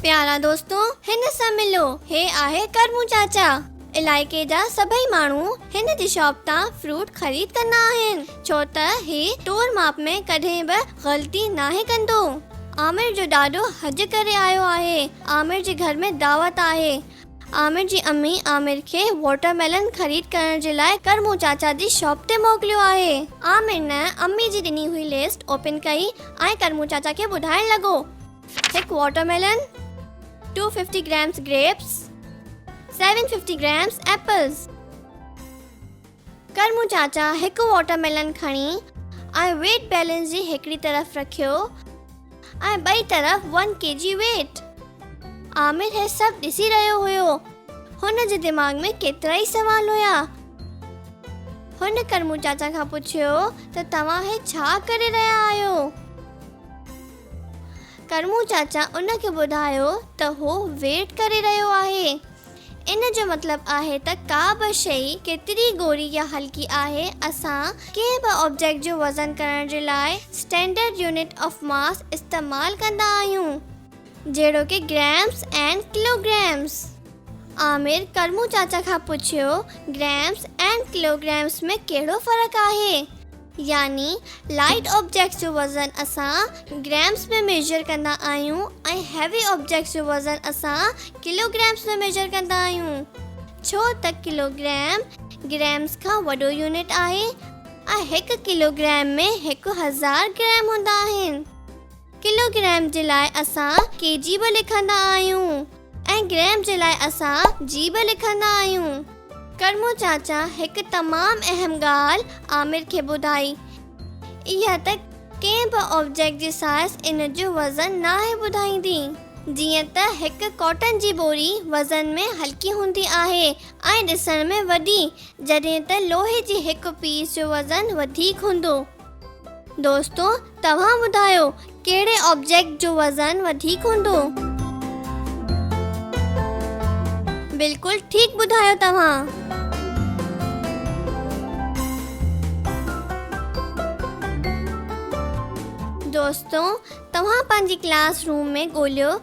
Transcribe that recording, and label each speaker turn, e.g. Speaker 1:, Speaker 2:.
Speaker 1: پيارا دوستو هن سان ملو هي آهي ڪرمون چاچا علائقي جا سڀئي ماڻهو هن جي شاپ تان فروٽ خريد ڪندا آهن ڇو ته هي تور ماپ ۾ ڪڏهن به غلطي ناهي ڪندو عامر جو ڏاڏو حج ڪري آيو آهي عامر جي گهر ۾ دعوت آهي عامر جي امي عامر کي واٽر ميلن خريد ڪرڻ جي لاء ڪرمون چاچا جي شاپ تي موڪليو آهي. عامر نه امي جي ڏني هئي لسٽ اوپن ڪئي ۽ ڪرمون چاچا کي ٻڌائڻ لڳو. هڪ watermelon, two fifty grams grapes, seven fifty grams apples. ڪرمون چاچا هڪ واٽر ميلن کڻي ۽ ويٽ بيلنس جي هڪڙي طرف رکيو ۽ ٻئي طرف one K G weight. Aamir هي سڀ ڏسي رهيو هيو. هن جي دماغ ۾ ڪيترائي سوال هيا. هن ڪرمون چاچا کان پڇيو ته توهان هي ڇا ڪري رهيا آهيو؟ ڪرمون چاچا ان کي ٻڌايو ته هو ويٽ ڪري رهيو آهي. ان جو مطلب آهي ته ڪا به شيء ڪيتري ڳوري يا هلڪي آهي، اسان ڪنهن به آبجيڪٽ جو وزن ڪرڻ جي لاء اسٽينڊرڊ يونٽ آف ماس استعمال ڪندا آهيون، جهڙوڪ گريمز ۽ ڪلوگريمز. عامر ڪرمون چاچا کان پڇيو، گريمز ۽ ڪلوگريمز ۾ ڪهڙو فرق آهي؟ يعني لائيٽ آبجيڪٽس جو وزن اسان گرامز ۾ ميجر ڪندا آهيون ۽ هيوي آبجيڪٽس جو وزن اسان ڪلو گرامز ۾ ميجر ڪندا آهيون ڇو ته ڪلو گرام گرامز کان وڏو يونٽ آهي ۽ هڪ ڪلو گرام ۾ هڪ هزار گرام هوندا آهن. ڪلو گرام جي لاء اسان ڪي جي به لکندا آهيون ۽ گرام جي لاء اسان جي به لکندا آهيون. ڪرمو چاچا هڪ تمام اهم ڳالهه عامر کي ٻڌائي. اها ته ڪنهن به آبجيڪٽ جي سائز ان جو وزن ناهي ٻڌائيندي. جيئن ته هڪ ڪاٽن جي ٻوري وزن ۾ هلڪي هوندي آهي ۽ ڏسڻ ۾ وڏي، جڏهن ته لوهي جي هڪ پيس جو وزن وڌيڪ هوندو. دوستو توهان ٻڌايو ڪهڙي آبجيڪٽ جو وزن وڌيڪ هوندو؟ بلڪل ٺيڪ ٻڌايو توهان. دوستو توهان پنهنجي ڪلاس روم ۾ ڳوليو